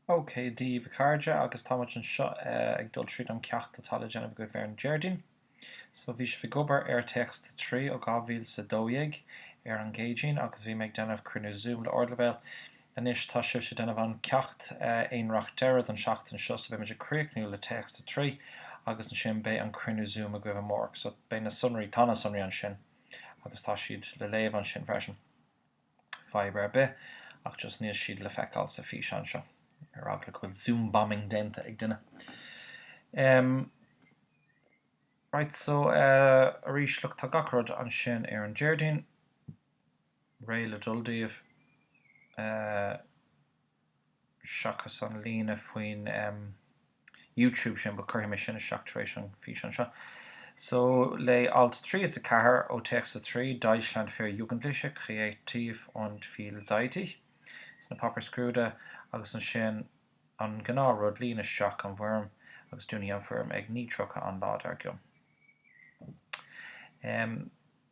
OK Dia daoibh a chairde, agus táimid anseo ag dul tríd an ceacht atá le déanamh agaibh ar an Déardaoin. So bhí sibh ag obair ar téacs 3 ó 2012 ar an gCéadaoin agus bhí mé ag déanamh cruinniú Zoom le Ardleibhéal. Anois tá sibhse ag déanamh an ceacht aonraic deireadh don seachtain seo so beimid ag críochnú le téacs 3 agus ansin beidh an cruinniú Zoom agaibh amárach so beidh na sonraí, tá na sonraí ansin agus tá siad le léamh ansin freisin. fadhb ar bith ach just níl siad le feiceáil sa físeán seo, ar eagla go bhfuil zoom bombing déanta ag duine. Em. Right so eh arís look tá gach rud ansin ar an Déardaoin, réidh le dul daoibh. Eh. seachas an líne faoin em. YouTube sin but cuirfidh mé sin isteach tar éis an físeán seo. So léigh alt 3 is 4 ó téacs 3, Deutschland für Jugendliche, Kreativ und Vielseitig, sna Páipéir Scrúdaithe agus ansin an gnáth rud, líon isteach an bhfoirm agus dúnfaidh an foirm ag 9:30 an lá dar gcionn. Em.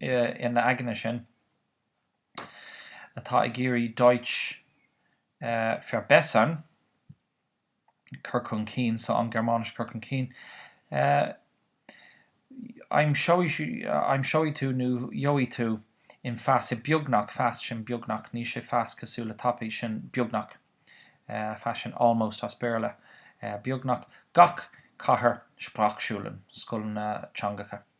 d'éinne againne sin atá ag iarraidh Deutsch verbessern, cur chun cinn, so an Ghearmáinis cur chun cinn, aimseoidh tú nó gheobhaidh tú in fast i beagnach fast sin beagnach, níl sé fast cosúil le tapaidh sin beagnach fast sin almost as Béarla beagnach gach cathair Sprachschulen, scoileanna teangacha.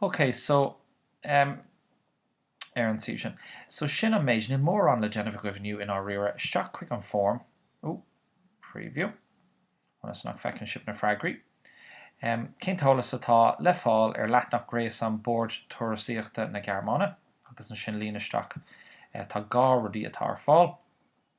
OK, so, em, ar an suíomh sin. So sin an méid. Níl mórán le déanamh agaibh inniu i ndáiríre. Isteach chuig an foirm. Ó, preview. Ionas nach bhfeiceann sibh na freagraí. Em, cén t-eolas atá le fáil ar leathnach gréasán Bord Turasaíochta na Gearmáine? Agus ansin líon isteach, eh, tá dhá rudaí atá ar fáil.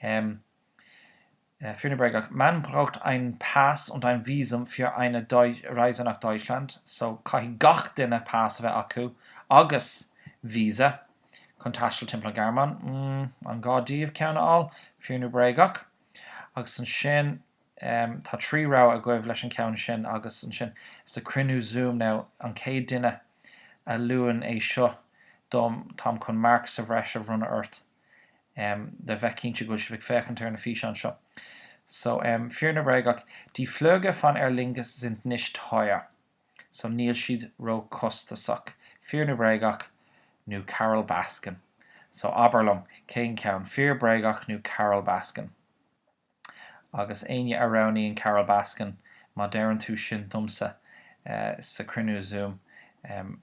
Fíor nó Bréagach, Man braucht einen Pass und ein Visum für eine Reise nach Deutschland, so caithfidh gach duine pas a bheith acu agus visa chun taisteal timpeall an Ghearmáin. An gá daoibh ceann a fháil? Fíor nó Bréagach, Agus ansin tá trí rogha agaibh leis an ceann sin agus ansin sa cruinniú Zoom now an chéad duine a luann é seo dom táim chun marc sa bhreis a bhronnadh ort. em le bheith cinnte go bhfuil sibh ag féachaint ar na físeáin seo. So em Fíor nó Bréagach, die Flüge von Aer Lingus sind nicht teuer. So níl siad ró chostasach. Fíor nó Bréagach nó Carol Baskin. So abair liom, cén ceann? Fíor, Bréagach nó Carol Baskin? Agus éinne a roghnaíonn Carol Baskin, má deireann tú sin domsa eh sa cruinniú Zoom, em,